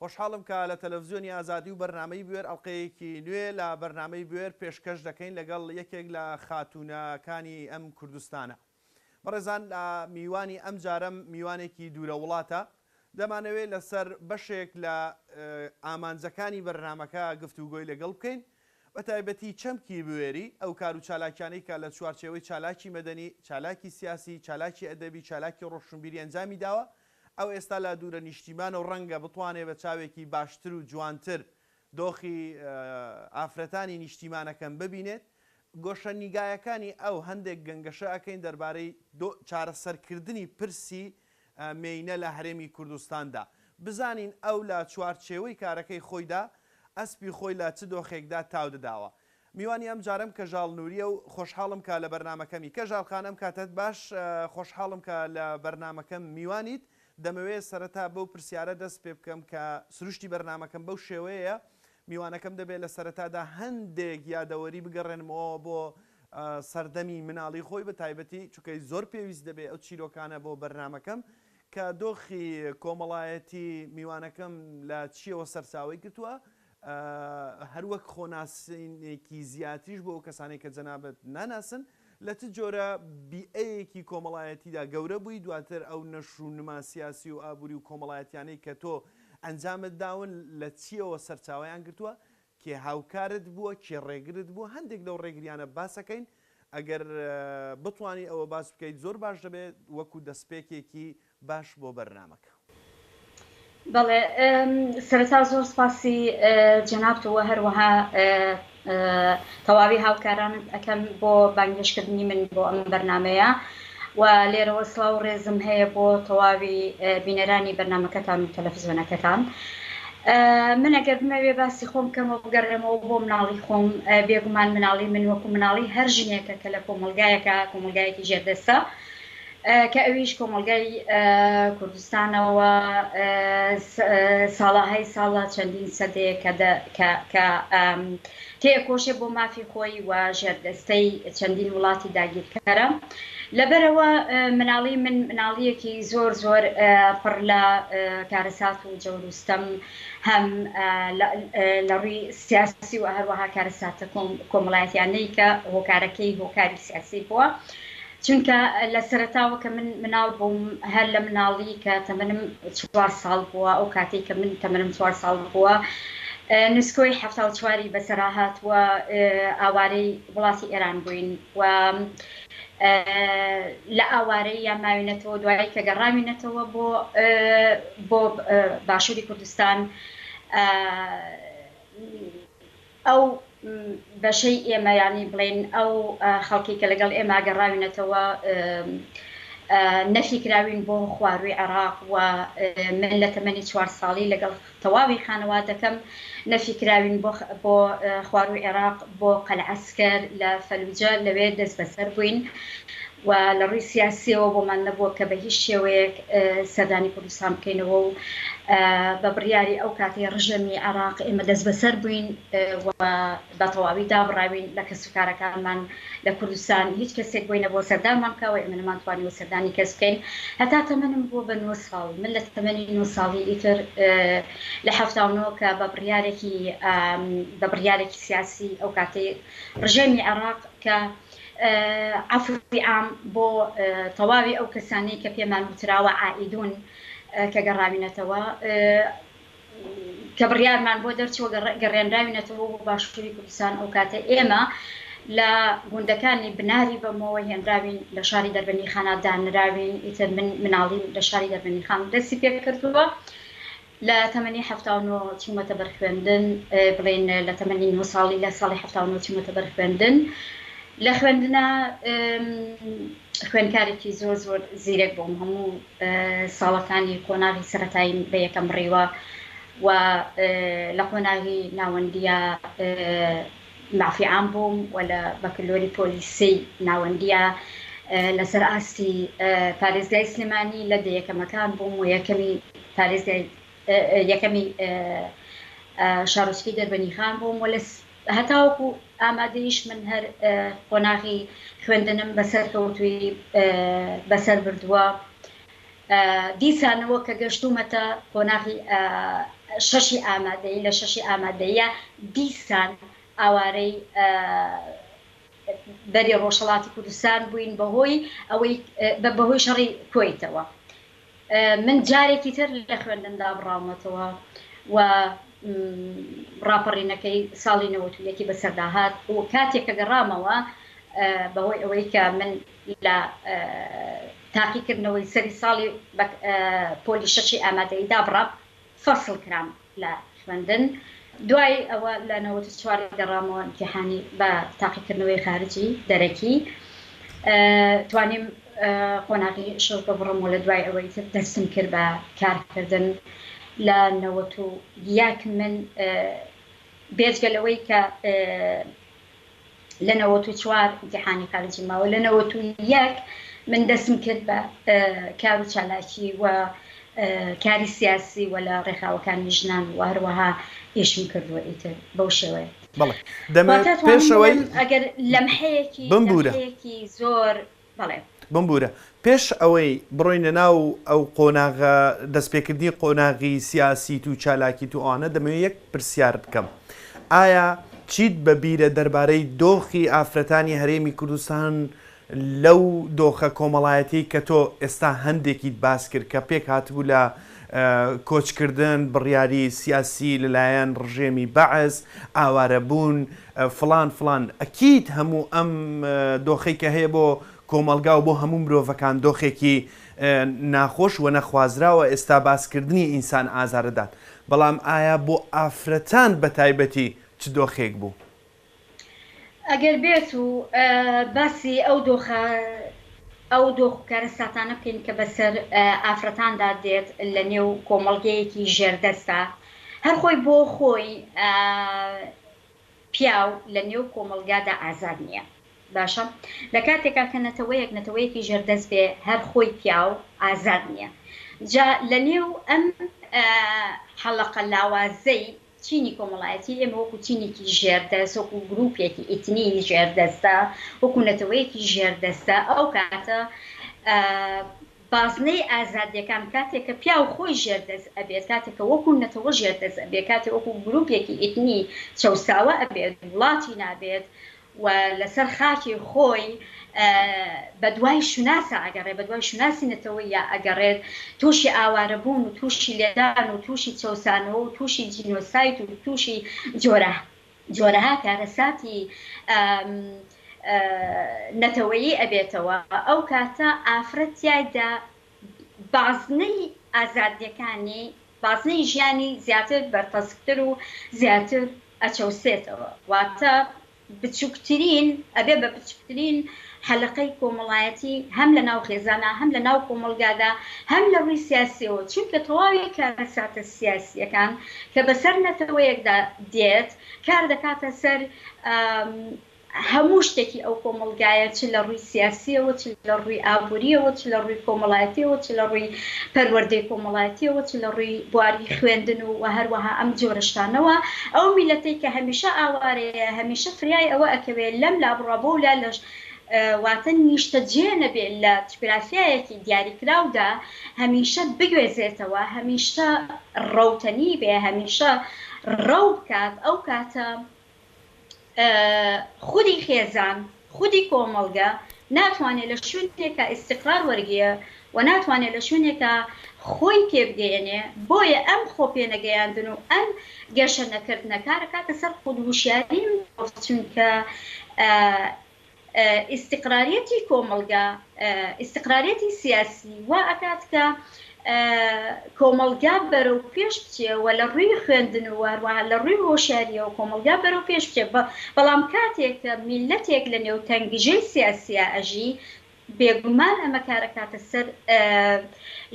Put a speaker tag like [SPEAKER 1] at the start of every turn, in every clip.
[SPEAKER 1] خۆشحاڵم کە لە تەلەڤزیۆنی ئازادی و بەرنامەی بوێر ئەڵقەیەکی نوێ لە بەرنامەی بوێر پێشکەش دەکەین لەگەڵ یەکێک لە خاتوونە کانی ئەم کوردستانە بەڕێزان لە میوانی ئەم جارەم میوانێکی دوورە وڵاتە دەمانەوێ لە سەر بەشێک لە ئامانجەکانی بەرنامەکە گفتوگۆی لەگەڵ بکەین بە تایبەتی چەمکی بوێری ئەو کار و چالاکیانەی کە لە چوارچێوەی چالاکی مەدەنی چالاکی سیاسی چالاکی ئەدەبی چالاکی ڕۆشنبیری ئەنجامی داوە ئەو ئێستا لە دوورە نیشتیمانە و ڕەنگە بتوانێ بە چاوێکی باشتر و جوانتر دۆخی ئافرەتانی نیشتیمانەکەم ببینێت. گۆشەنیگایەکانی ئەو هەندێک گەنگەشە ئەکەین دەربارەی چارەسەرکردنی پرسی مێینە لە هەرێمی کوردستاندا. بزانین ئەو لە چوارچێوەی کارەکەی خۆیدا ئەسپی خۆی لە چ دۆخێکدا تاو دەداوە. میوانی ئەم جارەم کەژاڵ نوریە و خۆشحاڵم کە لە بەرنامەکەمی. کەژاڵ خان ئەم کاتەت باش خۆشحاڵم کە لە بەرنامەکەم میوانیت دەمەوێ سەرەتا بەو پرسیارە دەست پێ بکەم کە سروشتی بەرنامەکەم بەو شێوەیەیە میوانەکەم دەبێ لە سەرەتادا هەندێک یادەوەری بگەڕێنمەوە بۆ سەردەمی مناڵی خۆی بە تایبەتی چونکە زۆر پێویست دەبێ ئەو چیرۆکانە بۆ بەرنامەکەم کە دۆخی کۆمەڵایەتی میوانەکەم لە چیەوە سەرچاوی گرتووە هەر وەک خۆناسینێکی زیاتریش بۆ ئەو کەسانەی کە جەنابت ناناسن، لە چ جۆرە بیئەیەکی کۆمەڵایەتیدا گەورە بووی، دواتر ئەو نەشر و نما سیاسی و ئابووری و کۆمەڵایەتیانەی کە تۆ ئەنجامت داون لە چییەوە سەرچاوەیان گرتووە، کێ هاوکارت بووە، کێ ڕێگرت بووە، هەندێک لەو ڕێگریانە باسەکەین، ئەگەر بتوانی ئەوە باس بکەیت زۆر باش دەبێت وەکو دەستپێکێکی باش بۆ بەرنامەکە.
[SPEAKER 2] بەڵێ سەرەتا زۆر سپاسی جەنابت و هەروەها تەواوی هاوکارانت ئەکەم بۆ بانگێشکردنی من بۆ ئەم بەرنامەیە و لێرەوە سڵاو و ڕێزم هەیە بۆ تەواوی بینەرانی بەرنمەکەتان و تەلەفزیۆنەکەتان. من ئەگەر بمەوێ باسی خۆم بکەمەوە بگەڕێمەوە بۆ مناڵی خۆم بێگومان مناڵی من وەکو مناڵی هەر ژنێکە کە لە کۆمەڵگایەکە کۆمەلگایەکی ژێردەستە کە ئەویش کۆمەڵگای کوردستانە و ساڵهای ساڵە چەندین سەدەیەکە کە تێئەکۆشێ بۆ مافی خۆی و ژێردەستەی چەندین وڵاتی داگیرکەرە لەبەرەوە مناڵی من مناڵیەکی زۆر زۆر پڕ لە کارەسات و جەوروستەم هەم لە ڕووی سیاسی و هەروەها کارەساتە کۆمەڵایەتیانەی کە هۆکارەکەی هۆکاری سیاسی بووە. چونکە لە سەرەتاوە کە من مناڵ بووم هەر لە مناڵی کە تەمەنم چوار ساڵ بووە ئەو کاتەی کە من تەمەنم چوار ساڵ بووە نسکۆی حەفتا و چواری بەسەراهات و ئاوارەی وڵاتی ئێران بووین و لە ئاوارەی یا ماوینەتەوە دوایی کە گەڕاوینەتەوە بۆ بۆ باشووری کوردستان ئەو بەشەی ئێمە یانی بڵێین ئەو خەڵکەی کە لەگەڵ ئێمە گەڕاوینەتەوە نەفی کراوین بۆ خوارووی عێراق و من لە تەمەنی چوار ساڵی لەگەڵ تەواوی خانەوادەکەم نەفی کراوین بۆ خوارووی عێراق بۆ قەلعەسکەر لە فەلوجە لەوێ دەستبەسەر بووین و لە ڕووی سیاسییەوە بۆمان نەبووە کە بە هیچ شێوەیەک سەردانی کوردستان بکەینەوە و بە بڕیاری ئەو کاتەی ڕژێمی عێراق ئێمە دەستبەسەر بووین و بە تەواوی دابڕاوین لە کەسوکارەکانمان لە کوردستان هیچ کەسێک بۆی نەبووە سەردانمان بکا و ئێمە نەمانتوانیوە سەردانی کەس بکەین هەتا تەمەنم بووە بە نۆ ساڵ من لە تەمەنی نۆ ساڵی ئیتر لە حەفتا و نۆ کە بە بڕیارێکی بە بڕیارێکی سیاسی ئەو کاتەی ڕژێمی عێراق کە عەفوی عام بۆ تەواوی ئەو کەسانەی کە پێمان وتراوە عائیدون کە گەڕاوینەتەوە کە بڕیارمان بۆ دەرچووە گەڕێنراوینەتەوە بۆ باشووری کوردستان ئەو کاتە ئێمە لە گوندەکانی بناری بەمەوە هێنراوین لە شاری دەربەنیخانا دانراوین ئیتر من مناڵیم لە شاری دەربەنیخان دەستی پێکردووە لە تەمەنی حەفتا و نۆ چوومەتە بەر خوێندن، بڵێین لە تەمەنی نۆ ساڵی لە ساڵی حەفتا و نۆ چوومەتە بەر خوێندن. لە خوێندنا خوێندکارێکی زۆر زۆر زیرەک بووم، هەموو ساڵەکانی قۆناغی سەرەتاییم بە یەکەم بڕیوە و لە قۆناغی ناوەندییا مافی عام بووم و لە بەکلۆری پۆلیسی ناوەندییە لەسەر ئاستی پارێزگای سلێمانی لە دە یەکەمەکان بووم و یەکەمی پارێزگای یەکەمی شارۆچکەی دەربەنیخان بووم و لە هەتاوەکو ئامادەیش من هەر قۆناغی خوێندنم بەسەرکەوتووی بەسەر بردووە دیسانەوە کە گەشتوومەتە قۆناغی شەشی ئامادەیی، لە شەشی ئامادەییە دیسان ئاوارەی بەری ڕۆژهەڵاتی کوردستان بووین بەهۆی ئەوەی بەهۆی شەڕی کۆیتەوە. من جارێکی تر لە خوێندن دابڕاومەتەوە و ڕاپەڕینەکەی ساڵی نەوەد و یەکی بەسەردا هات و کاتێک کە گەڕامەوە بەهۆی ئەوەی کە من لە تاقیکردنەوەی سەری ساڵی بە پۆلی شەشی ئامادەیی دابڕا، فەسڵ کرام لە خوێندن، دوای ئەوە لە نەوەد و چوار گەڕامەوە ئیمتیحانی بە تاقیکردنەوەی خارجی، دەرەکی، توانیم قۆناغی شەش ببڕم و لە دوای ئەوە ئیتر دەستم کرد بە کارکردن لە نەوەد و یەک من بێجگە لەوەی کە لە نەوەت و چوار ئیمتیحانی خارجیم ماوە لە نەوەت و یەک من دەستم کرد بە کار و چالاکی و کاری سیاسی و لە ڕێکخراوەکانی ژنان و هەروەها ئیشم کردووە ئیتر بەو شێوەیە بەڵێ دەمە
[SPEAKER 1] پێشەوەی ئەگەر
[SPEAKER 2] لەمحەیەکی بمبوورە زۆر بەڵێ. بمبوورە
[SPEAKER 1] پێش ئەوەی بڕۆینە ناو ئەو قۆناغە دەستپێکردنی قۆناغی سیاسیت و چالاکیت و ئەوانە دەمەوێ یەک پرسیار بکەم ئایا چیت بە بیرە دەربارەی دۆخی ئافرەتانی هەرێمی کوردستان لەو دۆخە کۆمەڵایەتی کە تۆ ئێستا هەندێکیت باس کرد کە پێک هاتبوو لە کۆچکردن بڕیاری سیاسی لەلایەن ڕژێمی بەعس ئاوارەبوون فڵان فڵان، ئەکید هەموو ئەم دۆخەی کە هەیە بۆ کۆمەڵگا و بۆ هەموو مرۆڤەکان دۆخێکی ناخۆش ونەخوازراوە، ئێستا باس کردنی ئینسان ئازاردات، بەڵام ئایا بۆ ئافرەتان بە تایبەتی چ دۆخێک بوو؟
[SPEAKER 2] ئەگەر بێت و باسی ئەو دۆخە ئەو دۆخ و کارەساتانە بکەین کە بەسەر ئافرەتاندا دێت لە نێو کۆمەڵگەیەکی ژێردەستدا هەر خۆی بۆ خۆی پیاو لە نێو کۆمەڵگادا ئازاد نییە. باشە لە کاتێکا کە نەتەوەیەک نەتەوەیەکی ژێردەست بێ هەر خۆی پیاو ئازاد نییە. جا لە نێو ئەم حەڵەقە لاوازەی چینی کۆمەڵایەتی ئێمە وەکوو چینێکی ژێردەست، وەکوو گرووپێکی ئیتنی ژێردەستە، وەکوو نەتەوەیەکی ژێردەستە، ئەو کاتە بازنەی ئازادیەکان کاتێ کە پیاو خۆی ژێر دەست ئەبێت کاتێ کە وەکو نەتەوە ژێر دەست ئەبێت کاتێ وەکو گروپێکی ئیتنی چەوساوە ئەبێت وڵاتی نابێت و لەسەر خاکی خۆی بە دوای شوناسا ئەگەڕێت بە دوای شوناسی نەتەوەیا ئەگەڕێت توشی ئاوارەبوون و توشی لێدان و توشی چەوسانەوە و توشی جینۆساید و توشی جۆرە جۆرەها کارەساتی نەتەوەیی ئەبێتەوە ئەو کاتە ئافرەت تیایدا بازنەی ئازادیەکانی بازنەی ژیانی زیاتر بەرتەسکتر و زیاتر ئەچەوسێتەوە واتە بچوکترین ئەبێ بە بچوکترین حەلەقەی کۆمەڵایەتی هەم لە ناو خێزانا هەم لە ناو کۆمەڵگادا هەم لە ڕووی سیاسیەوە چونکە تەواوی کارەساتە سیاسیەکان کە بەسەر نەتەوەیەکدا دێت کار دەکاتە سەر هەموو شتێکی ئەو کۆمەڵگایە چ لە ڕووی سیاسیەوە چ لە ڕووی ئابووریەوە چ لە ڕووی کۆمەڵایەتیەوە چ لە ڕووی پەروەردەی کۆمەڵایەتیەوە چ لە ڕووی بواری خوێندن و وە هەروەها ئەم جۆرە شتانەوە ئەو میلەتەی کە هەمیشە ئاوارەیە هەمیشە فریای ئەوە ئەکەوێ لەم لا بڕا بەو لا لەش واتە نیشتەجێ نەبێ لە چگرافیایەکی دیاریکراودا هەمیشە بگوێزێتەوە هەمیشە ڕەوتەنی بێ هەمیشە ڕەو بکات ئەو کاتە خودی خێزان، خودی کۆمەڵگە ناتوانێ لە شوێنێکا ئیستیقرار وەرگێ و ناتوانێ لە شوێنێکا خۆی پێبگەیەنێ، بۆیە ئەم خۆ پێنەگەیاندن و ئەم گەشە نەکردنە کارەکاتە سەر خود وشیاری مرۆڤ چونکە ئیستیقراریەتی کۆمەڵگا، ئیستیقراریەتی سیاسی وا ئەکات کە کۆمەڵگا بەرەو پێش بچێ و لە ڕووی خوێندن و هەروەها لە ڕووی هۆشیاریەوە کۆمەڵگا بەرەو پێش بچێ بەڵام کاتێک کە میللەتێک لە نێو تەنگژەی سیاسیا ئەژی بێگومان ئەمە کارەکاتە سەر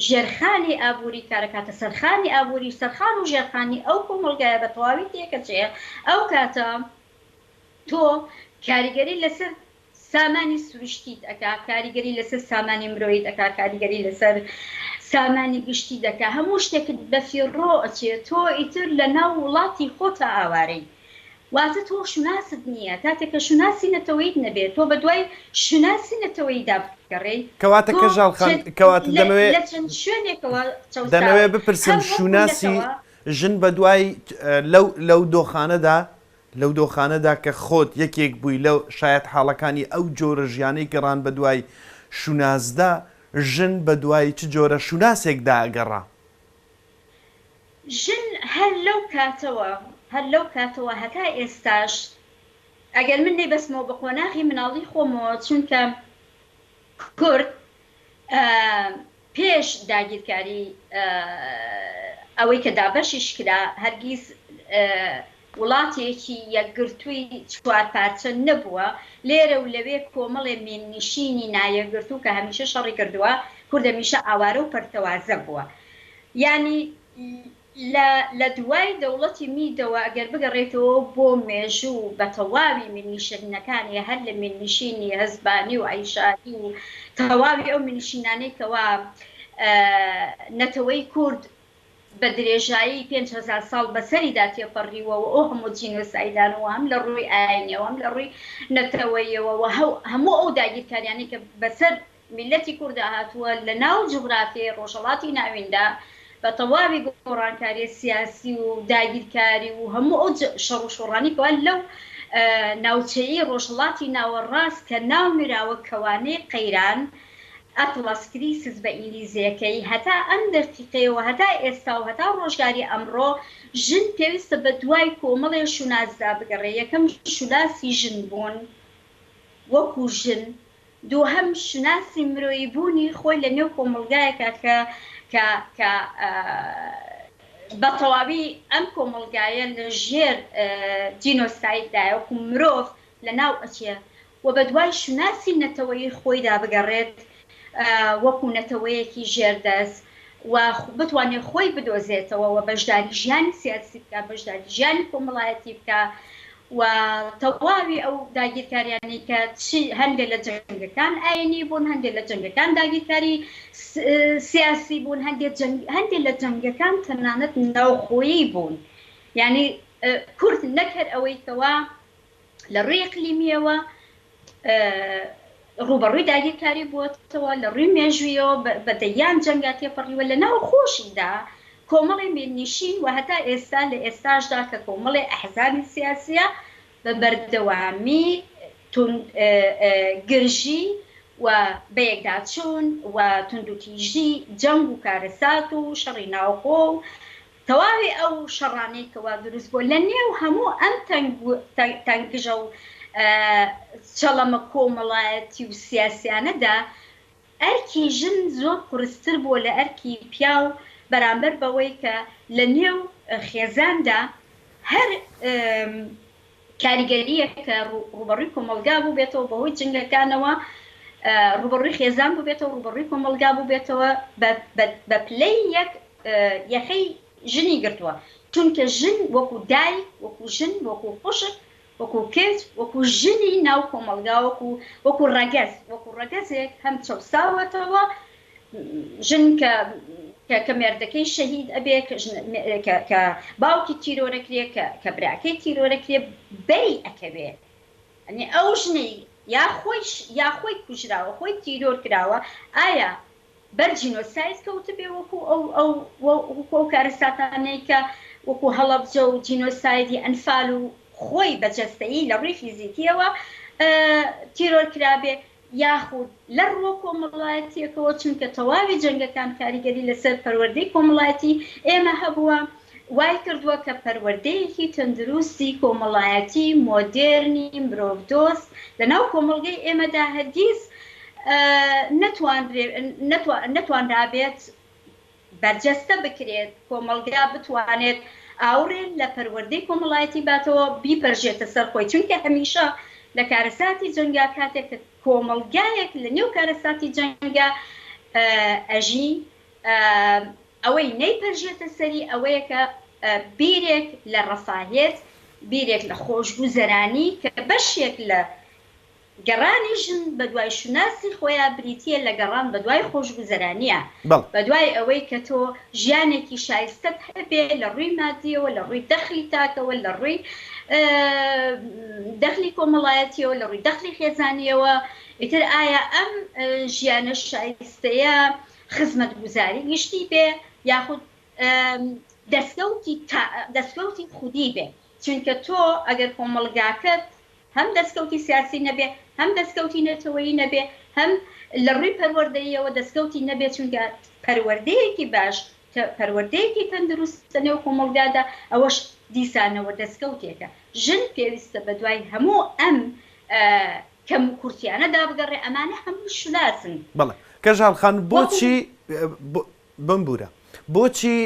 [SPEAKER 2] ژێرخانی ئابووری کارەکاتە سەرخانی ئابووری سەرخان و ژێرخانی ئەو کۆمەڵگایە بە تەواوی تێکەچێ ئەو کاتە تۆ کاریگەری لەسەر سامانی سروشتیت ئەکا کاریگەری لەسەر سامانی مرۆیت ئەکا کاریگەری لەسەر سامانی گشتی دەکا هەموو شتێکت بەفیڕۆ ئەچێ تۆ ئیتر لە ناو وڵاتی خۆتا ئاوارەی واتە تۆ شوناست نییە کاتێک کە شوناسی نەتەوەیت نەبێ تۆ بە دوای شوناسی نەتەوەیدا بگەڕێی کەواتە تۆ کەژاڵ
[SPEAKER 1] خان کەواتە دەمەوێ لە چەند شوێنێکەوە
[SPEAKER 2] چەوساوە دەمەوێ بپرسم
[SPEAKER 1] هەم وەکو شوناسی نەتەوە ژن بە دوای لەو لەو دۆخانەدا لەو دۆخانەدا کە خۆت یەکێک بووی لە شایەتحاڵەکانی ئەو جۆرە ژیانەی گەڕان بەدوای شوناسدا، ژن بەدوای چ جۆرە شوناسێکدا گەڕا؟
[SPEAKER 2] ژن هەر لەو کاتەوە هەر لەو کاتەوە هەتا ئێستاش، ئەگەر من نەیبەستمەوە بە قۆناغی مناڵی خۆمەوە، چونکە کورد پێش داگیرکاری ئەوەی کە دابەشیش کرا هەرگیز وڵاتێکی یەکگرتووی چوار پارچە نەبووە، لێرە و لەوێ کۆمەڵێ میننشینی نایەکگرتوو کە هەمیشە شەڕی کردووە، کورد هەمیشە ئاوارە و پەرتەوازە بووە یانی. لە لە دوای دەوڵەتی میدەوە گەر بگەڕێیتەوە بۆ مێژوو و بە تەواوی مینیشەنینەکانی هەر لە مینیشینی هەزبانی و عەیشاعی و تەواوی ئەو مینیشینانەی کەوا نەتەوەی کورد بە درێژایی پێنج هەزار ساڵ بە سەریدا تێپەڕیوە و ئەو هەموو جینۆسایدانە و هەم لە ڕووی ئاینیەوە هەم لە ڕووی نەتەوەیەوە و هەموو ئەو داگیرکاریانەی کە بە سەر میللەتی کورد هاتووە لە ناو جوغرافیای ڕۆژهەڵاتی ناویندا بە تەواوی گۆڕانکاریە سیاسی و داگیرکاری و هەموو ئەو شەڕ و شۆڕانەی کەوا لەو ناوچەیەی ڕۆژهەڵاتی ناوەڕاست کە ناو نراوە کەوانەی قەیران Atlas Crisis بە ئینگلیزیەکەی هەتا ئەم دەقیقەیە و هەتا ئێستا و هەتا ڕۆژگاری ئەمڕۆ ژن پێویستە بە دوای کۆمەڵێ شوناسدا بگەڕێ یەکەم شوناسی ژن بوون وەکو ژن دووهەم شوناسی مرۆیی بوونی خۆی لە نێو کۆمەڵگایەکا کە کە کە بە تەواوی ئەم کۆمەڵگایە لە ژێر جینۆساید دایە وەکوو مرۆڤ لە ناو ئەچێ و بە دوای شوناسی نەتەوەیی خۆی دا بگەڕێت وەکوو نەتەوەیەکی ژێر دەست و بتوانێ خۆی بدۆزێتەوە و بەشداری ژیانی سیاسی بکا بەشداری ژیانی کۆمەڵایەتی بکا و تەواوی ئەو داگیرکاریانەی کە چی هەندێ لە جەنگەکان ئاینی بوون، هەندێ لە جەنگەکان داگیرکاری سیاسی بوون، هەندێ جەنگ هەندێ لە جەنگەکان تەنانەت ناوخۆیی بوون، یانی کورد نەک هەر ئەوەی کەوا لە ڕووی ئیقلیمییەوە، ڕووبەڕووی داگیرکاری بووەتەوە، لە ڕووی مێژوویەوە بە دەیان جەنگا تێپەڕیوە، لە ناوخۆشیدا کۆمەڵی میرنیشین و هەتا ئێستا لە ئێستاشدا کە کۆمەڵی ئەحزابی سیاسییە بە بەردەوامی توندگرژی و بەیەکداچوون و توندوتیژی جەنگ و کارەسات و شەڕی ناوخۆ و تەواوی ئەو شەڕانەی کە وا دروست بووە لە نێو هەموو ئەم تەنگژە و چەڵەمە کۆمەڵایەتی و سیاسیانەدا ئەرکی ژن زۆر قورستر بووە لە ئەرکی پیاو بەرامبەر بەوەی کە لە نێو خێزاندا هەر کاریگەرییەک کە ڕووبەڕووی کۆمەڵگا بووبێتەوە بەهۆی جنگەکانەوە، ڕووبەڕووی خێزان بووبێتەوە، ڕووبەڕووی کۆمەڵگا بووبێتەوە، بە پلەی یەک یەخەی ژنی گرتووە، چونکە ژن وەکو دایک، وەکو ژن، وەکو خوشک، وەکو کچ، وەکو ژنی ناو کۆمەڵگا، وەکو ڕەگەز، وەکو ڕەگەزێک هەم چەوساوەتەوە، ژن کە کە کە مێردەکەی شەهید ئەبێ کە ژن کە کە باوکی تیرۆرەکرێ کە کە براکەی تیرۆرەکرێ بەری ئەکەوێ ئەنی ئەو ژنەی یا خۆیش یا خۆی کوژراوە خۆی تیرۆر کراوە ئایا بەر جینۆساید کەوتبێ وەکو ئەو ئەو وەکو ئەو کارەساتانەی کە وەکو هەڵەبجە و جینۆسایدی ئەنفال و خۆی بە جەستەیی لە ڕووی فیزیکیەوە تیرۆر کرابێ یاخود لە ڕووە کۆمەڵایەتییەکەوە، چونکە تەواوی جەنگەکان کاریگەری لەسەر پەروەردەی کۆمەڵایەتی ئێمە هەبووە، وای کردووە کە پەروەردەیەکی تەندروستی کۆمەڵایەتی مۆدێرنی مرۆڤدۆست لەناو کۆمەڵگەی ئێمەدا هەرگیز نەتوانرابێت بەرجەستە بکرێت، کۆمەڵگا بتوانێت ئاوڕێ لە پەروەردەی کۆمەڵایەتی باتەوە، بیپەرژێتە سەر خۆی، چونکە هەمیشە لە کارەساتی جەنگا کاتێک کە کۆمەڵگایەک لە نێو کارەساتی جەنگا ئەژی، ئەوەی نەیپەرژێتە سەری ئەوەیە کە بیرێک لە ڕەفاهێت، بیرێک لە خۆشگوزەرانی کە بەشێک لە گەڕانی ژن بەدوای شوناسی خۆیا بریتییە لە گەڕان بەدوای خۆشگوزەرانییە، بەدوای ئەوەی کە تۆ ژیانێکی شایستەت هەبێ لە ڕووی مادییەوە، لە ڕووی دەخلی تاکەوە، لە ڕووی دەخلی کۆمەڵایەتییەوە، لە ڕووی دەخلی خێزانییەوە، ئیتر ئایا ئەم ژیانە شایستەیە خزمەتگوزاری گشتی بێ یاخود دەستکەوتی خودی بێ، چونکە تۆ ئەگەر کۆمەڵگاکەت هەم دەستکەوتی سیاسی نەبێ، هەم دەستکەوتی نەتەوەیی نەبێ، هەم لە ڕووی پەروەردەییەوە دەستکەوتی نەبێ، چونکە پەروەردەیەکی باش، پەروەردەیەکی تەندروست لە نێو کۆمەڵگادا، ئەوەش دیسانەوە دەستکەوتێکە. ژن پێویستە بە دوای هەموو ئەم کەموکورتییانەدا بگەڕێ، ئەمانە هەمووی شوناسن. بەڵێ. کەژاڵ
[SPEAKER 1] خان، بۆچی، بمبوورە، بۆچی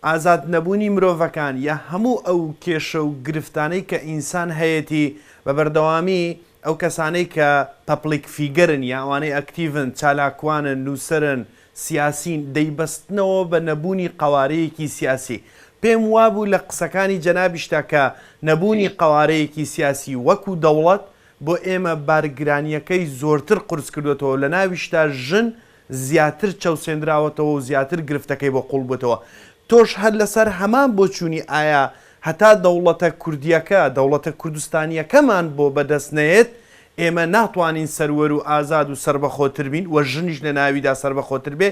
[SPEAKER 1] ئازاد نەبوونی مرۆڤەکان یا هەموو ئەو کێشە و گرفتانەی کە ئینسان هەیەتی بە بەردەوامی ئەو کەسانەی کە پەپڵیک فیگەرن یا ئەوانەی ئەکتیڤن، چالاکوانن، نووسەرن، سیاسین، دەیبەستنەوە بە نەبوونی قەوارەیەکی سیاسی. پێم وابوو لە قسەکانی جەنابیشدا کە نەبوونی قەوارەیەکی سیاسی وەکوو دەوڵەت بۆ ئێمە بارگرانییەکەی زۆرتر قورس کردۆتەوە و لە ناویشدا ژن زیاتر چەوسێندراوەتەوە و زیاتر گرفتەکەی بۆ قوڵ بووتەوە. تۆش هەر لەسەر هەمان بۆچوونی ئایا هەتا دەوڵەتە کوردییەکە، دەوڵەتە کوردستانییەکەمان بۆ بەدەست نەیەت، ئێمە ناتوانین سەروەر و ئازاد و سەربەخۆتر بین و ژنیش لە ناویدا سەربەخۆتر بێ؟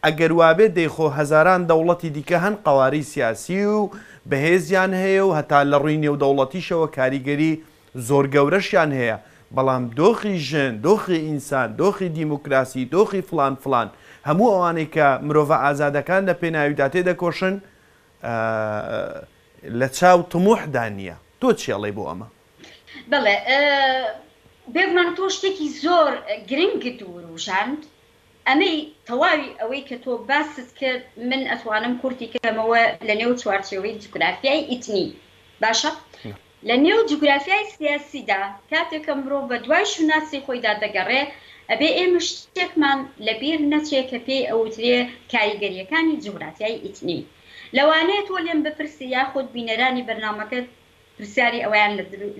[SPEAKER 1] ئەگەر وابێ دەی خۆ هەزاران دەوڵەتی دیکە هەن قەوارەی سیاسی و بەهێزیان هەیە و هەتا لە ڕووی نێودەوڵەتیشەوە کاریگەری زۆر گەورەشیان هەیە، بەڵام دۆخی ژن، دۆخی ئینسان، دۆخی دیموکراسی، دۆخی فڵان فڵان، هەموو ئەوانەی کە مرۆڤە ئازادەکان لە پێناویدا تێدەکۆشن، لە چاو طموحدا نییە. تۆ چی ئەڵێی بۆ ئەمە؟ بەڵێ،
[SPEAKER 2] بێگومان تۆ شتێکی زۆر گرنگت وروژاند، ئەمەی تەواوی ئەوەی کە تۆ باست کرد، من ئەتوانم کورتی کەمەوە لەنێو چوارچێوەی جوگرافیای ئیتنی، باشە، لە نێو جوگرافیای سیاسیدا کاتێک کە مرۆڤ بە دوای شوناسی خۆیدا دەگەڕێ، ئەبێ ئێمە شتێکمان لە بیر نەچێ کە پێی ئەوترێ کاریگەرییەکانی جوگرافیای ئیتنی. لەوانەیە تۆ لێم بپرسی یاخود بینەرانی بەرنامەکەت پرسیاری ئەوەیان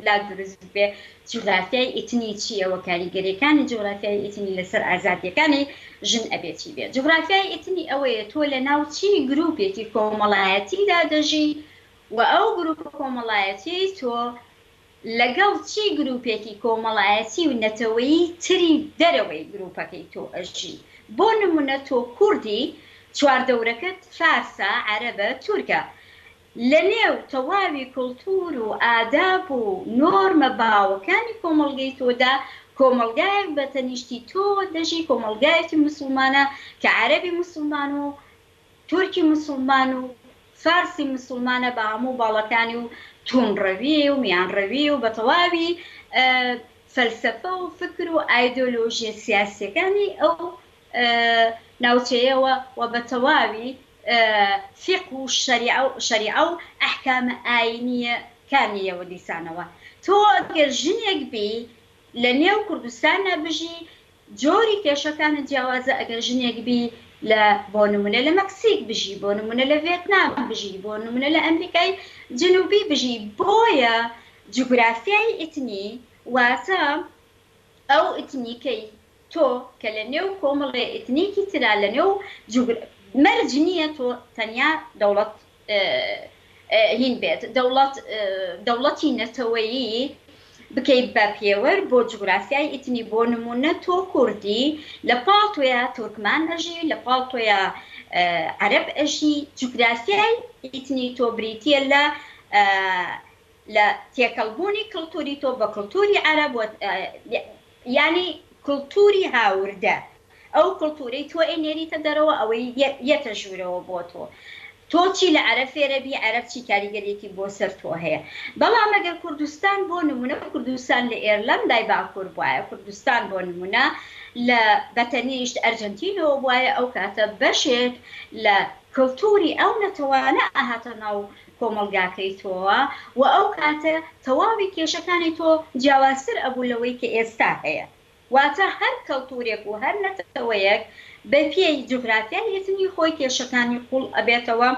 [SPEAKER 2] لات دروست ببێ جوگرافیای ئیتنی چییە و کاریگەرییەکانی جوگرافیای ئیتنی لە سەر ئازادییەکانی ژن ئەبێ چی بێ؟ جوگرافیای ئیتنی ئەوەیە تۆ لە ناو چی گرووپێکی کۆمەڵایەتیدا دەژی وە ئەو گروپە کۆمەڵایەتیەی تۆ لەگەڵ چی گروپێکی کۆمەڵایەتی و نەتەوەیی تری دەرەوەی گروپەکەی تۆ ئەژی بۆ نمونە تۆ کوردی چواردەورەکەت فارسە عەرەبە تورکە لە نێو تەواوی کلتور و ئاداب و نۆرمە باوەکانی کۆمەڵگەی تۆدا کۆمەڵگایەک بە تەنیشتی تۆوە دەژی کۆمەڵگایەکی موسڵمانە کە عەرەبی موسڵمان و تورکی مسوڵمان و فارسی مسوڵمانە بە هەموو باڵەکانی و تووندڕەوی و میانڕەوی و بە تەواوی فەلسەفە و فکر و ئایدۆلۆژییە سیاسییەکانی ئەو ناوچەیەوە و بە تەواوی فیقه و شەریعە و ئەحکامە ئایینییەکانییەوە دیسانەوە تۆ ئەگەر ژنێک بی لە نێو کوردستاندا بژی جۆری کێشەکانت جیاوازە ئەگەر ژنێک بی لە بۆ نمونە لە مەکسیک بژی بۆ نمونە لە ڤێتنام بژی بۆ نمونە لە ئەمریکای جنوبی بژی بۆیە جوگرافیای ئیتنی واتە ئەو ئیتنیکەی تۆ کە لە نێو کۆمەڵێ ئیتنیکی ترا لە نێو جوگرا مەرج نیە تۆ تەنیا دەوڵەت هین بێت دەوڵەت دەوڵەتی نەتەوەیی بکەیت بە پێوەر بۆ جوگرافیای ئیتنی بۆ نموونە تۆ کوردی لە پاڵ تۆیا تورکمان ئەژی لە پاڵ تۆیا عەرەب ئەژی جوگرافیای ئیتنی تۆ بریتیە لە لە تێکەڵبوونی کلتوری تۆ بە کلتوری عەرەب یانی کلتوری هاوردە ئەو کلتورەی تۆ ئەی نێریتە دەرەوە ئەوەی یەتە ژورەوە بۆ تۆ تۆ چی لە عەرەب فێرەبی عەرەب چی کاریگەریەکی بۆ سەر تۆ هەیە بەڵام ئەگەر کوردستان بۆ نمونە کوردستان لە ئێرلەندای باکور بوایە کوردستان بۆ نمونە لە بەتەنیشت ئەرجەنتینەوە بوایە ئەو کاتە بەشێک لە کلتوری ئەو نەتەوانە ئەهاتە ناو کۆمەڵگاکەی تۆوە و ئەو کاتە تەواوی کێشەکانی تۆ جیاوازتر ئەبوو لەوەی کە ئێستا هەیە واتە هەر کەڵتورێک و هەر نەتەوەیەک بە پێی جوغرافیای ئیتنی خۆی کێشەکانی قوڵ ئەبێتەوە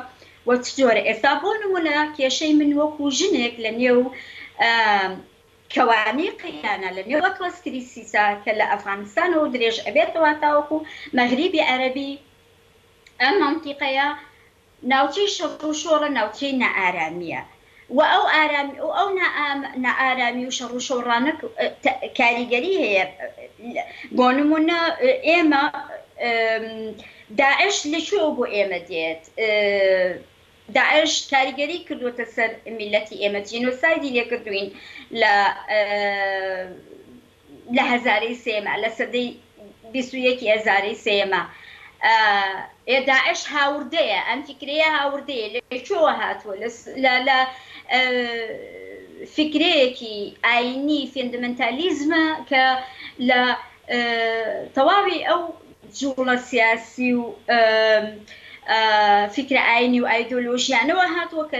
[SPEAKER 2] و چ جۆرە ئێستا بۆ نمونە کێشەی من وەکو ژنێک لە نێو کەوانی قەیرانە لە نێو ئەتڵەس کریسیسە کە لە ئەفغانستانەوە درێژ ئەبێتەوە تاوەکو مەغریبی عەرەبی ئەم مەنتیقەیە ناوچەی شەڕ و شۆڕە ناوچەی نائارامیە و ئەو ئارامی و ئەو نائارامی و شەڕ و شۆڕانە کاریگەری هەیە بۆ نمونە ئێمە داعش لە کوێوە بۆ ئێمە دێت داعش کاریگەری کردوەتە سەر میلەتی ئێمە جینۆسایدی لێ کردوین لە لە هەزارەی سێیەما، لە سەدەی بیست و یەکی هەزارەی سێیەما یە، داعش هاوردەیە، ئەم فیکرەیە هاوردەیە، لە کوێوە هاتووە؟ لە لە فیکرەیەکی ئایینی فێندمنتالیزمە کە لە تەواوی ئەو جووڵە سیاسی و فیکرە ئایینی و ئایدۆلۆژیانەوە هاتووە کە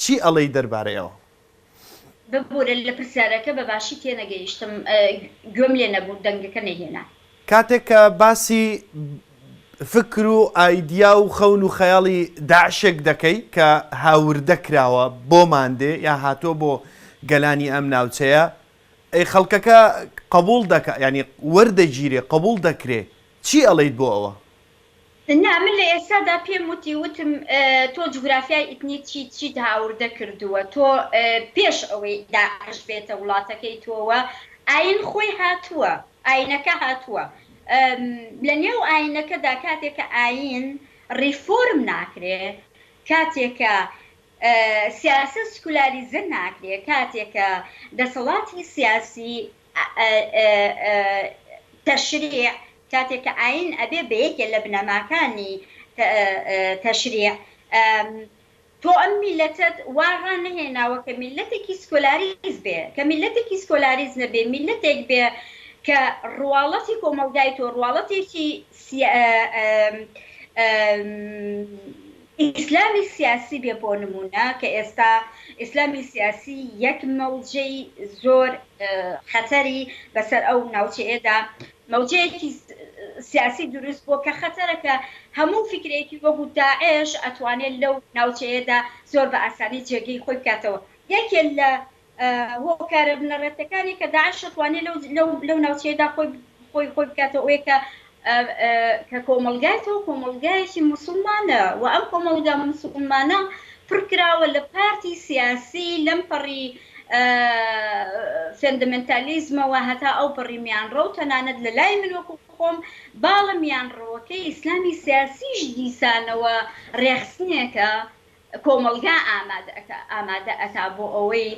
[SPEAKER 1] چی ئەڵێی دەربارەی ئەوە؟
[SPEAKER 2] ببورە لە پرسیارەکە بە باشی تێنەگەیشتم گوێم لێ نەبوو دەنگەکە نەیهێنا. کاتێک کە
[SPEAKER 1] باسی فکر و ئایدیا و خەون و خەیاڵی داعشێک دەکەی کە هاوردە کراوە بۆمان دێ یا هاتووە بۆ گەلانی ئەم ناوچەیە ئەی خەڵکەکە قبوڵ دەکا یانی وەردەگیرێ قبوڵ دەکرێ چی ئەڵێیت بۆ ئەوە؟ نا
[SPEAKER 2] من لە ئێستادا پێم وتی وتم تۆ جوگرافیای ئیتنی چیت چیت هاوردە کردووە تۆ پێش ئەوەی داعش بێتە وڵاتەکەی تۆوە ئاین خۆی هاتووە ئاینەکە هاتووە لە نێو ئاینەکەدا کاتێک کە ئاین ڕیفۆرم ناکرێ کاتێک کە سیاسەت سکولاریزە ناکرێ کاتێک کە دەسەڵاتی سیاسی تەشریع، کاتێک کە ئایین ئەبێ بە یەکێ لە بنەماکانی تەشریع، تۆ ئەم میللەتەت وا ڕانەهێناوە کە میللەتێکی سکۆلاریز بێ، کە میللەتێکی سکۆلاریز نەبێ، میللەتێک بێ کە ڕواڵەتی کۆمەڵگای تۆ، ڕواڵەتێکی ئیسلامی سیاسی بێ بۆ نموونە کە ئێستا ئیسلامی سیاسی یەک مەوجەی زۆر خەتەری بەسەر ئەو ناوچەیەدا مەوجەیەکی سیاسی دروست بووە کە خەتەرە کە هەموو فیکرەیەکی وەکوو داعش ئەتوانێت لەو ناوچەیەدا زۆر بە ئاسانی جێگەی خۆی بکاتەوە یەکێ لە هۆکارە بنەڕەتەکانی کە داعش شەتوانێ لەو لەو لەو ناوچەیەدا خۆی خۆی خۆی بکاتەوە ئەوەیە کە کە کۆمەلگای تۆ کۆمەلگایەکی مسلمانە و ئەم کۆمەلگا مسلمانە پڕکراوە لە پارتی سیاسی لەم پەڕی فێندەمنتالیزمەوە هەتا ئەو پەڕی میانڕە و تەنانەت لە لای من وەکو خۆم باڵە میانڕەوەکەی ئیسلامی سیاسیش دیسانەوە ڕێخستنێکە کۆمەڵگا ئامادە ئەکا بۆ ئەوەی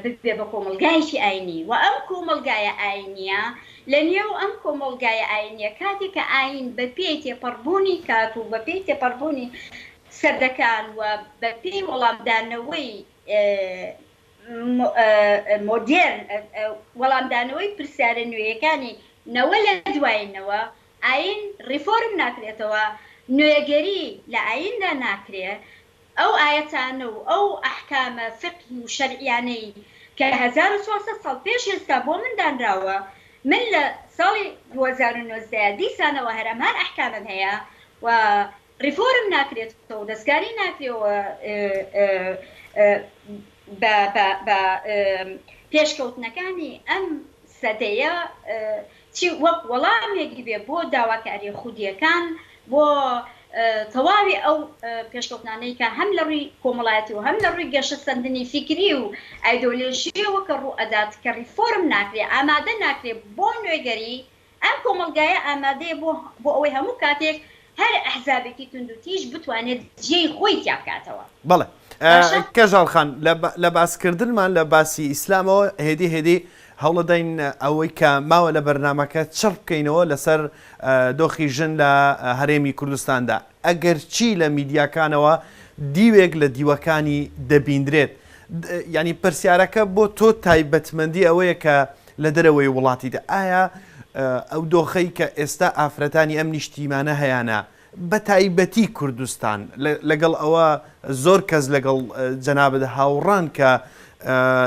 [SPEAKER 2] ببێ بە کۆمەڵگایەکی ئاینی وە ئەم کۆمەڵگایە ئاینیە لە نێو ئەم کۆمەڵگایە ئاینیە کاتێک کە ئاین بە پێی تێپەڕبوونی کات و بە پێی تێپەڕبوونی سەدەکان و بە پێی وەڵامدانەوەی مۆدێرن وەڵامدانەوەی پرسیارە نوێیەکانی نەوە لە دوای نەوە ئایین ڕیفۆرم ناکرێتەوە، نوێگەری لە ئاییندا ناکرێ، ئەو ئایەتانە و ئەو ئەحکامە فیقهی و شەرعییانەی کە هەزار و چوار سەد ساڵ پێش ئێستا بۆ من دانراوە، من لە ساڵی دوو هەزار و نۆزدە دیسانەوە هەر ئەم هەر ئەحکامەم هەیە و ریفۆرم ناکرێتەوە و دەستکاری ناکرێ و بە پێشکەوتنەکانی ئەم سەدەیە چی وەک وەڵامێکی بێ بۆ داواکاریە خودیەکان بۆ تەواوی ئەو پێشکەوتنانەی کە هەم لە رووی کۆمەڵایەتی و هەم لە رووی گەشەسەندنی فیکری و ئایدۆلۆژیەوە کە رووئەدات کە ریفۆرم ناکرێ ئامادە ناکرێ بۆ نوێگەری ئەم کۆمەڵگایە ئامادەیە بۆ بۆ ئەوەی هەموو کاتێک هەر ئەحزابێکی توندوتیژ بتوانێت جێی خۆی تیا بکاتەوە. بەڵێ باشە.
[SPEAKER 1] کەژاڵ خان، لە لە باسکردنمان لە باسی ئیسلامەوە هێدی هێدی هەوڵدەین ئەوەی کە ماوە لە بەرنامەکە چڕ بکەینەوە لەسەر دۆخی ژن لە هەرێمی کوردستاندا. ئەگەرچی لە میدیاکانەوە دیوێک لە دیوەکانی دەبیندرێت. یانی پرسیارەکە بۆ تۆ تایبەتمەندی ئەوەیە کە لە دەرەوەی وڵاتیدا ئایا ئەو دۆخەی کە ئێستا ئافرەتانی ئەم نیشتیمانە هەیانە بە تایبەتی کوردستان لەگەڵ ئەوە زۆر کەس لەگەڵ جەنابت هاوڕان کە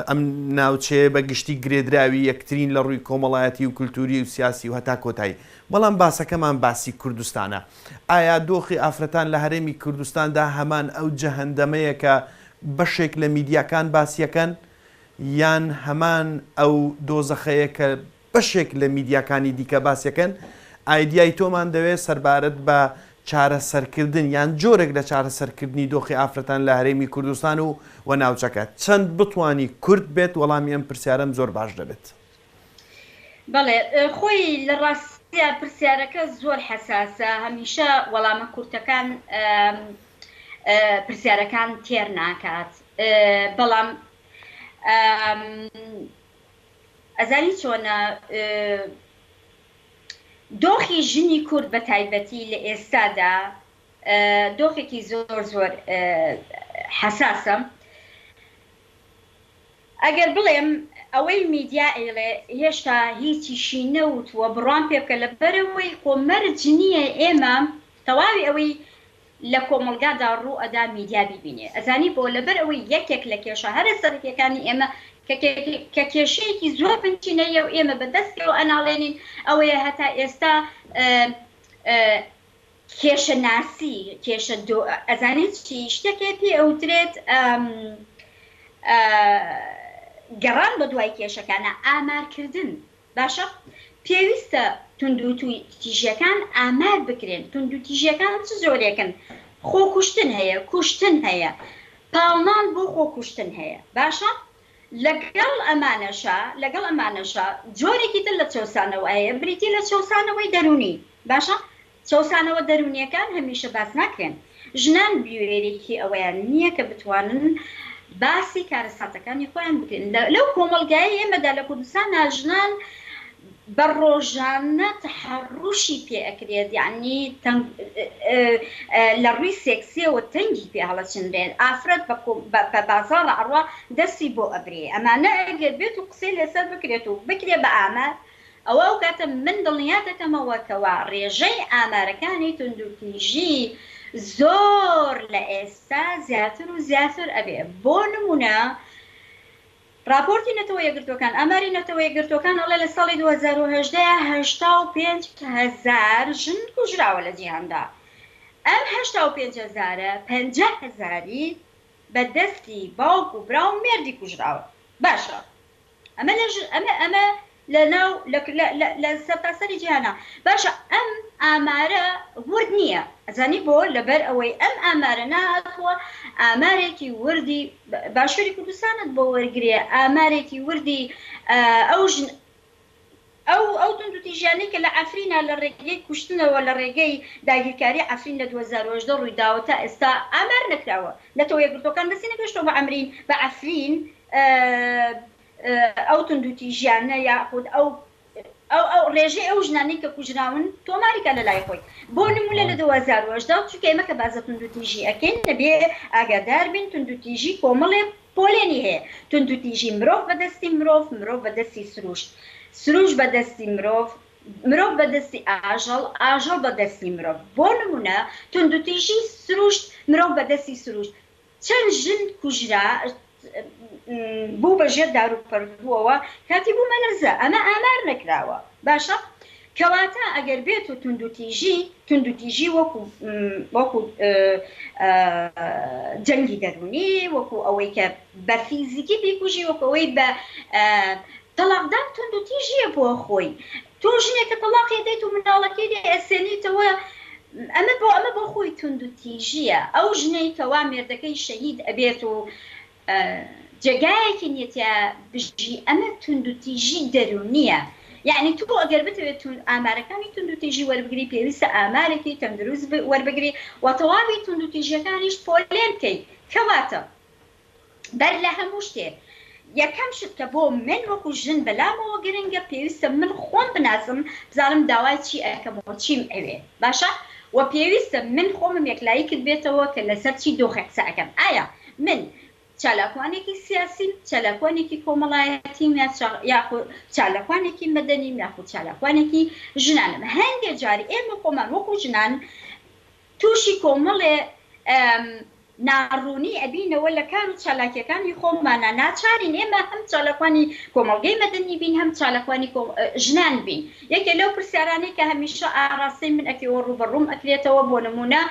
[SPEAKER 1] ئەم ناوچەیە بە گشتی گرێدراوی یەکترین لە ڕووی کۆمەڵایەتی و کولتوری و سیاسی و هەتا کۆتایی بەڵام باسەکەمان باسی کوردستانە ئایا دۆخی ئافرەتان لە هەرێمی کوردستاندا هەمان ئەو جەهندەمەیە کە بەشێک لە میدیاکان باسیەکەن یان هەمان ئەو دۆزەخەیە کە بەشێک لە میدیاکانی دیکە باسیەکەن، ئایدیای تۆمان دەوێت سەربارەت بە چارەسەرکردن یان جۆرێک لە چارەسەرکردنی دۆخی ئافرەتان لە هەرێمی کوردستان و و ناوچەکە، چەند بتوانی کورت بێت وەڵامی ئەم پرسیارەم زۆر باش دەبێت.
[SPEAKER 2] بەڵێ خۆی لە ڕاستیا پرسیارەکە زۆر حەساسە هەمیشە وەڵامە کورتەکان پرسیارەکان تێر ناکات بەڵام ئەزانی چۆنە دۆخی ژنی کورد بە تایبەتی لە ئێستادا دۆخێکی زۆر زۆر حەساسە ئەگەر بڵێم ئەوەی میدیا ئەیڵێ هێشتا هیچیشی نەوتووە بڕوام پێ بکە لەبەرئەوەی خۆ مەرج نییە ئێمە تەواوی ئەوەی لە کۆمەڵگادا ڕوو ئەدا میدیا بیبینێ ئەزانی بۆ لەبەرئەوەی یەکێک لە کێشە هەرە سەرەکیەکانی ئێمە کە کێشەیەکی زۆر بنچینەییە و ئێمە بە دەست پێوە ئەناڵێنین ئەوەیە هەتا ئێستا کێشە ناسی کێشە دۆ ئەزانیت چی شتەکێ پێ ئەوترێت گەڕان بە دوای کێشەکانە ئامارکردن باشە پێویستە توندوتوی تیژەکان ئامار بکرێن توندو تیژەکان چ زۆرێکن خۆکوشتن هەیە کوشتن هەیە پاڵنان بۆ خۆکوشتن هەیە باشە لەگەڵ ئەمانەشا لەگەڵ ئەمانەشا جۆرێکی تر لە چەوسانەوە هەیە بریتی لە چەوسانەوەی دەروونی، باشە چەوسانەوە دەروونییەکان هەمیشە باس ناکرێن، ژنان بوێریی ئەوەیان نییە کە بتوانن باسی کارەساتەکانی خۆیان بکەن، لەو کۆمەڵگایەی ئێمەدا لە کوردستانا ژنان، بە ڕۆژانە تەحەڕوشی پێ ئەکرێت یەعنی تەنگ لە ڕووی سێکسیەوە تەنگی پێ هەڵەچنرێت ئافرەت بە بازاڕ ئەڕوا دەستی بۆ ئەبرێ ئەمانە ئەگەر بێت و قسەی لەسەر بکرێت و بکرێ بە ئامار ئەوا ئەو کاتە من دڵنیا دەکەمەوە کەوا ڕێژەی ئامارەکانی توندوتیژی زۆر لە ئێستا زیاتر و زیاتر ئەبێ بۆ نمونە ڕاپۆرتی نەتەوە یەکگرتووەکان ئاماری نەتەوە یەکگرتووەکان ئەڵێ لە ساڵی دوو هەزار و هەژدە هەشتا و پێنج هەزار ژن کوژراوە لە جیهاندا ئەم هەشتا و پێنج هەزارە پەنجا هەزاری بە دەستی باوک و برا و مێردی کوژراوە باشە ئەمە لە ئەمە لە ناو لە لە لە لە سەرتاسەری جیهانا باشە ئەم ئامارە ورد نییە ئەزانی بۆ لەبەر ئەوەی ئەم ئامارە نەهاتووە ئامارێکی وردی باشوری کوردستانت بۆ وەرگرێ ئامارێکی وردی ئەو ژن ئەو ئەو توندوتیژیانەی کە لە عەفرینا لە ڕێگەی کوشتنەوە لە ڕێگەی داگیرکاری عەفرین لە دوو هەزار و هەژدە ڕوویداوە تا ئێستا ئامار نەکراوە نەتەوە یەکگرتووەکان دەستی نەگەشتووە بە عەمرین بە عەفرین ئەو توندوتیژیانە یاخود ئەو ئەو ئەو ڕێژەی ئەو ژنانەی کە کوژراون تۆماری کە لە لای خۆی بۆ نمونە لە دو هەزار و هەژدە چونکە ئێمە کە باس لە توندوتیژی ئەکەین دەبێ ئاگادار بین توندوتیژی کۆمەڵێک پۆلێنی هەیە توندوتیژی مرۆڤ بە دەستی مرۆڤ مرۆڤ بە دەستی سروشت سروشت بە دەستی مرۆڤ مرۆڤ بە دەستی ئاژەڵ ئاژەڵ بە دەستی مرۆڤ بۆ نمونە توندوتیژی سروشت مرۆڤ بە دەستی سروشت چەند ژن کوژرا بوو بە ژێر دارو پەردووەوە کاتی بوو مەلەزە ئەمە ئامار نەکراوە باشە کەواتە ئەگەر بێت و توندوتیژی توندوتیژی وەکو وەکو جەنگی دەرونی وەکو ئەوەی کە بە فیزیکی بیکوژی وەکەوەی بە تەڵاقدان توندوتیژیە بۆ خۆی تۆ ژنێکە تەڵاقی ئەدەیت و مناڵەکەی لێ ئەسێنیتەوە ئەمە بۆ ئەمە بۆ خۆی توندو تیژیە ئەو ژنەی کەوا مێردەکەی شەهید ئەبێت و جێگایەکی نیە تیا بژی ئەمە توندو تیژی دەرونیە یەعنی تۆ ئەگەر بتەوێت توند ئامارەکانی توندو تیژی وەربگری پێویستە ئامارێکی تەندروست وەربگری وە تەواوی توندو تیژیەکانیش پۆلێن کەی کەواتە بەر لە هەموو شتێ یەکەم شت کە بۆ من وەکو ژن بەلامەوە گرنگە پێویستە من خۆم بناسم بزانم داوای چی ئەکەم و چیم ئەوێ باشە وە پێویستە من خۆمم یەکلایی کردبێتەوە کە لەسەر چی دۆخێک قسە ئەکەم ئایا من چالاکوانێکی سیاسیم چالاکوانێکی کۆمەڵایەتیم یا چا یاخو چالاکوانێکی مەدەنیم یاخو چالاکوانێکی ژنانم هەندێ جار ئێمە خۆمان وەکو ژنان توشی کۆمەڵێ ناڕوونی ئەبینەوە لە کار و چالاکیەکانی خۆمانا ناچارین ئێمە هەم چالاکوانی کۆمەڵگەی مەدەنی بین هەم چالاکوانی ژنان بین یەکێ لەو پرسیارانەی کە هەمیشە ئاراستەی من ئەکەی و ڕووبەڕووم ئەکرێتەوە بۆ نموونە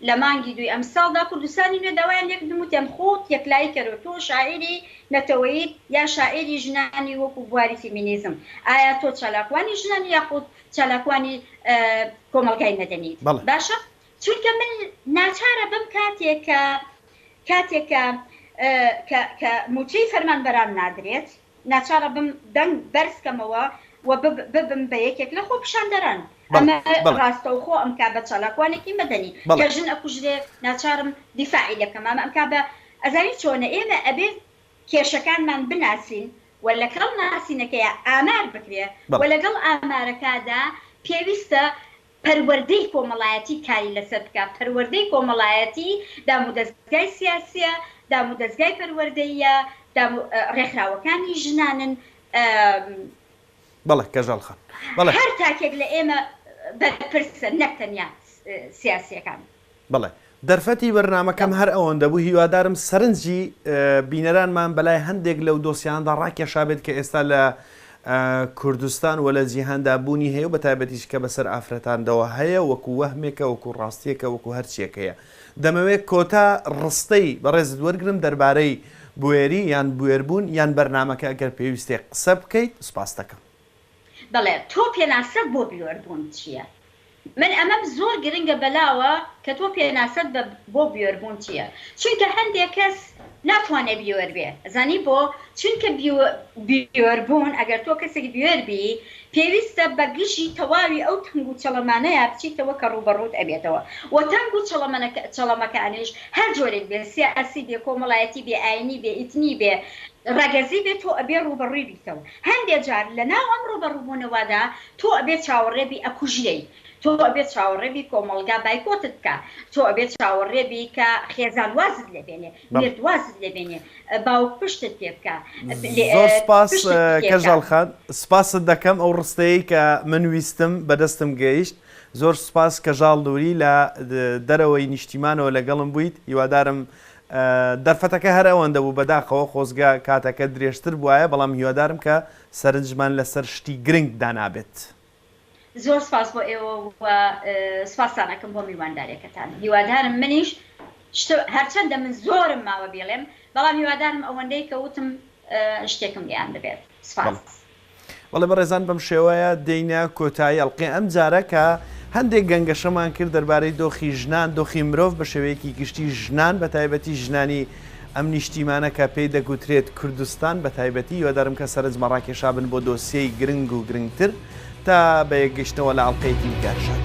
[SPEAKER 2] لە مانگی دووی ئەمساڵدا کوردستانی نوێ داوایان لێکردم وتیان خۆت یەکلایی کەرەوە تۆ شاعیری نەتەوەیت یا شاعیری ژنانی وەکو بواری فیمینیزم ئایا تۆ چالاکوانی ژنانی یاخود چالاکوانی کۆمەڵگای مەدەنی باشە چونکە من ناچارە بم کاتێک کە کاتێک کە کە کە موچەی فەرمانبەران نادرێت ناچارە بم دەنگ بەرز کەمەوە و ببم بە یەکێک لە خۆپیشاندەران ئەمە ڕاستەوخۆ ئەمکا بە چالاکوانێکی مەدەنی کە ژن ئەکوژرێ ناچارم دیفاعی لەکەم ئەمە ئەمکا بە ئەزانی چۆنە ئێمە ئەبێ کێشەکانمان بناسین و لەکەڵ ناسینەکەیا ئامار بکرێ و لەگەڵ ئامارەکادا پێویستە پەروەردەی کۆمەڵایەتی کاری لەسەر بکا، پەروەردەی کۆمەڵایەتی دامودەزگای سیاسیە، دامودەزگای پەروەردەییە، دامو ڕێکخراوەکانی ژنانن، ئە.
[SPEAKER 1] بەڵێ کەژاڵ خان. هەر تاکێک
[SPEAKER 2] لە ئێمە بەرپرسە نەک تەنیا سیاسیەکان. بەڵێ
[SPEAKER 1] دەرفەتی بەرنامەکەم هەر ئەوەندە بوو، هیوادارم سەرنجی بینەرانمان بەلای هەندێک لەو دۆسیانەدا ڕاکێشابێت کە ئێستا لە کوردستان و لە جیهاندا بوونی هەیە و بەتایبەتیش کە بەسەر ئافرەتاندەوە هەیە وەکو وەهمێکە وەکو ڕاستیەکە وەکو هەرچیەک هەیە. دەمەوێت کۆتا ڕستەی بەڕێزت وەرگرم دەربارەی بوێری یان بوێربوون یان بەرنامەکە ئەگەر پێویستێ قسە بکەیت سوپاستەکەم. بەڵێ
[SPEAKER 2] تۆ پێناسەت بۆ بیۆر بوون چیە من ئەمەم زۆر گرنگە بەلاوە کە تۆ پێناسەت بە بۆ بیۆر بوون چیە چونکە هەندێ کەس ناتوانێ بیۆر بێ ئەزانی بۆ چونکە بیۆر بوون ئەگەر تۆ کەسێک بیۆر بی پێویستە بە گژی تەواوی ئەو تەنگ و چەڵەمانەیا بچیتەوە کە ڕووبەڕووت ئەبێتەوە وە تەنگ و چەڵەمەکانیش هەر جۆرێک بێ سیاسی بێ کۆمەڵایەتی بێ ئاینی بێ ئیتنی بێ ڕەگەزی بێ تۆ ئەبێ ڕووبەڕووی بیتەوە هەندێ جار لە ناو ئەم ڕوبەڕوبونەوادا تۆ ئەبێ چاوەڕێ بی ئەکوژرێی تۆ ئەبێ چاوەڕێ بی کۆمەڵگا بایکۆتت کا تۆ ئەبێ چاوەڕێ بی کە خێزان وازت لێ بێنێ بەڵێ. میرد وازت لێ بێنێ باوک پشتت پێ بکا پلێ زۆر سوپاس
[SPEAKER 1] پشتت پێ کا. کەژاڵ خان سوپاست دەکەم ئەو ڕستەیەی کە من ویستم بە دەستم گەیشت زۆر سوپاس کەژاڵ نوری لە دەرەوەی نیشتیمانەوە لەگەڵم بویت هیوادارم دەرفەتەکە هەر ئەوەندە بوو بەداخەوە خۆزگە کاتەکە درێژتر بوایە بەڵام هیوادارم کە سەرنجمان لەسەر شتی گرنگ دانابێت. زۆر
[SPEAKER 2] سپاس بۆ ئێوە و سپاستان ئەکەم بۆ میوانداریەکەتان هیوادارم منیش شت هەرچەندە من زۆرم ماوە بیڵێم بەڵام هیوادارم ئەوەندەی کە وتم شتێکم گەیاندبێت سپاس. بەڵێ
[SPEAKER 1] بەڕێزان بەم شێوەیە دێینە کۆتایی ئەڵقەی ئەم جارە کە هەندێک گەنگەشەمان کرد دەربارەی دۆخی ژنان دۆخی مرۆڤ بە شێوەیەکی گشتی ژنان بە تایبەتی ژنانی ئەم نیشتیمانە کە پێی دەگوترێت کوردستان بە تایبەتی هیوادارم کە سەرنجمە ڕاکێشابن بۆ دۆسیەی گرنگ و گرنگتر تا بە یەکگەشتنەوە لە ئەڵلقەیەکی دیکارشات.